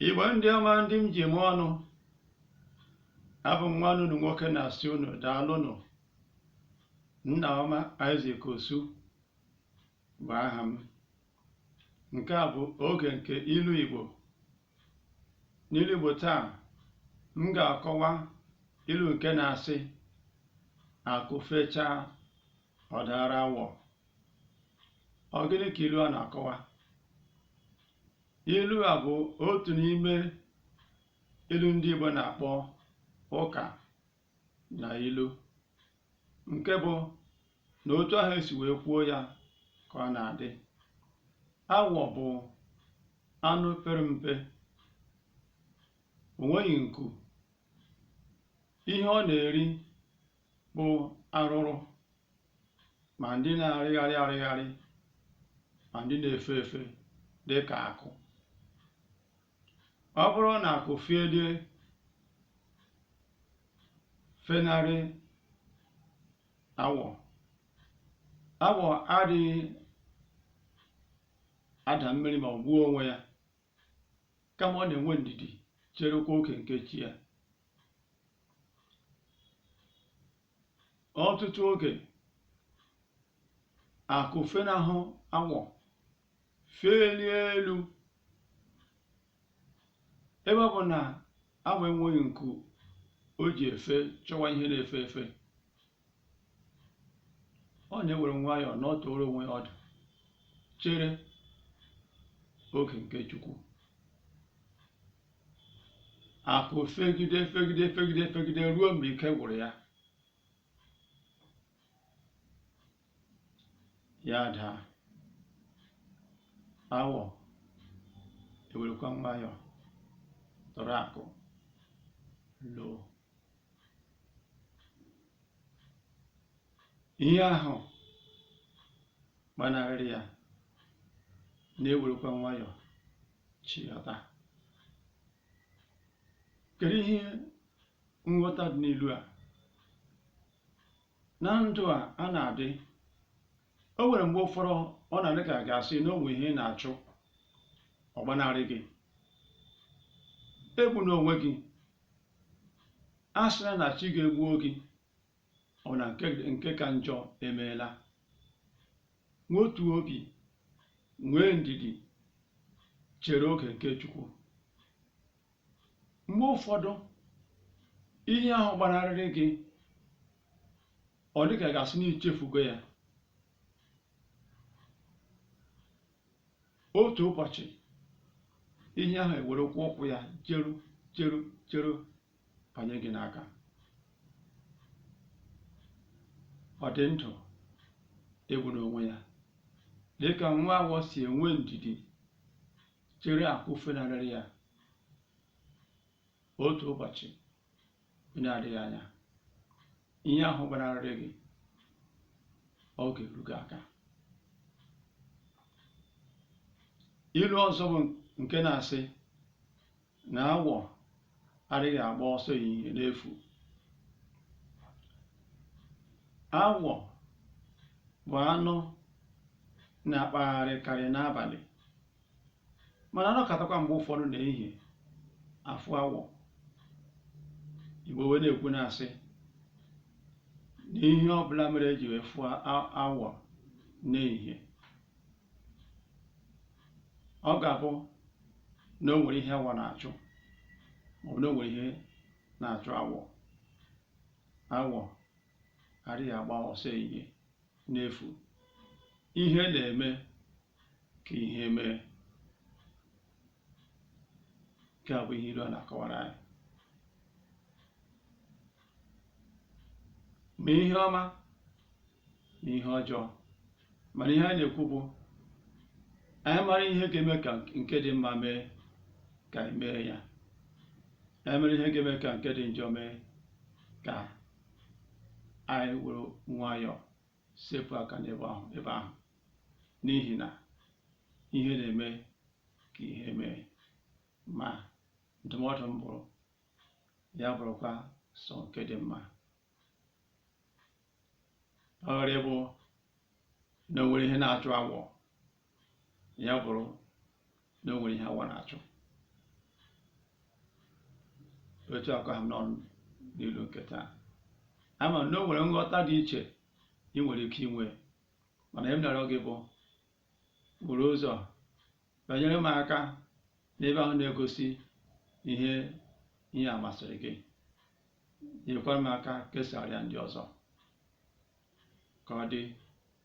Igbo ndị ọma ndị m ji eme ọnụ abụ m nwanne unu nwoke na-asị unu daalụnụ nna ọma Isaac Osu bụ aha m nke a bụ oge nke ilu Igbo n'ilu Igbo taa m ga-akọwa ilu nke na-asị akụ fechaa ọ daara awọ ọ gịnị ka ilu a na-akọwa ilu a bụ otu n'ime ilu ndị Igbo na-akpọ ụka na ilu nke bụ na otu ahụ e si wee kwuo ya ka ọ na-adị awọ bụ anụ pere mpe o nweghị nku ihe ọ na-eri bụ arụrụ ma ndị na-arịgharị arịgharị ma ndị na-efe efe dị ka akụ ọ bụrụ na akụ felie fenarị awọ awọ adịghị ada mmiri ma ọ gbuo onwe ya kama ọ na-enwe ndidi cherekwa oge nke chi ya ọtụtụ oge akụ fenahụ awọ felie elu ebe ọ bụ na awọ enweghị nku o ji efe chọwa ihe na-efe efe ọ na-ewere nwayọọ nọtụrụ onwe ya ọdụ chere oge nke chukwu akụ fegide fegide fegide fegide ruo mgbe ike gwụrụ ya ya daa awọ ewerekwa nwayọọ tụrụ akụ loo ihe ahụ gbanarịrị ya na-ewerekwa nwayọọ chịghọta kedu ihe nghọta dị n'ilu a na ndụ a a na-adị o nwere mgbe ụfọdụ ọ na-adị ka a ga-asị na o nwere ihe ị na-achụ ọ gbanarị gị egbuna onwe gị asịna na chi gị egbuo gị ọ na nke ka njọ emeela wetuo obi nwee ndidi chere oge nke Chukwu mgbe ụfọdụ ihe ahụ gbanarịrị gị ọ dị ka a ga-asị na i chefugo ya otu ụbọchị ihe ahụ ewerekwa ụkwụ ya jeru jeru jeru banye gị n'aka ọ dị ndụ egbuna onwe ya dịka nwa awọ si enwe ndidi chere akụ fenarịrị ya otu ụbọchị bụ na-adịghị anya ihe ahụ gbanarịrị gị ọ ga-eru gị aka ilu ọzọ bụ nke na-asị na awọ adịghị agba ọsọ ehihie n'efu awọ bụ anụ na-akpagharịkarị n'abalị mana a nọkatakwa mgbe ụfọdụ n'ehihie a fụ awọ igbo wee na-ekwu na-asị na ihe ọbụla mere eji wee fụ awọ n'ehihie ọ ga-abụ na o nwere ihe awọ na-achụ maọbụ na o nwere ihe na-achụ awọ awọ adịghị agba ọsọ ehihie n'efu ihe na-eme ka ihe mee nke a bụ ihe ilu a na-akọwara anyị ma ihe ọma ma ihe ọjọọ mana ihe anyị na-ekwu bụ anyị mara ihe ga-eme ka nke dị mma mee ka anyị mee ya anyị mara ihe ga-eme ka nke dị njọ mee ka anyị were nwayọọ sepụ aka n'ebe ahụ ebe ahụ n'ihi na ihe na-eme ka ihe mee ma ndụmọdụ m bụrụ ya bụrụkwa sọ nke dị mma ọ ghara ịbụ na o nwere ihe na-achụ awọ ya bụrụ na o nwere ihe awọ na-achụ etu a ka ọ ha m n'ọnụ n'ilu nke taa ama m na o nwere nghọta dị iche ị nwere ike inwe mana ihe m na-arịọ gị bụ buru ụzọ binyere m aka n'ebe ahụ na-egosi ihe ihe a masịrị gị nyekwara m aka kesaara ya ndị ọzọ ka ọ dị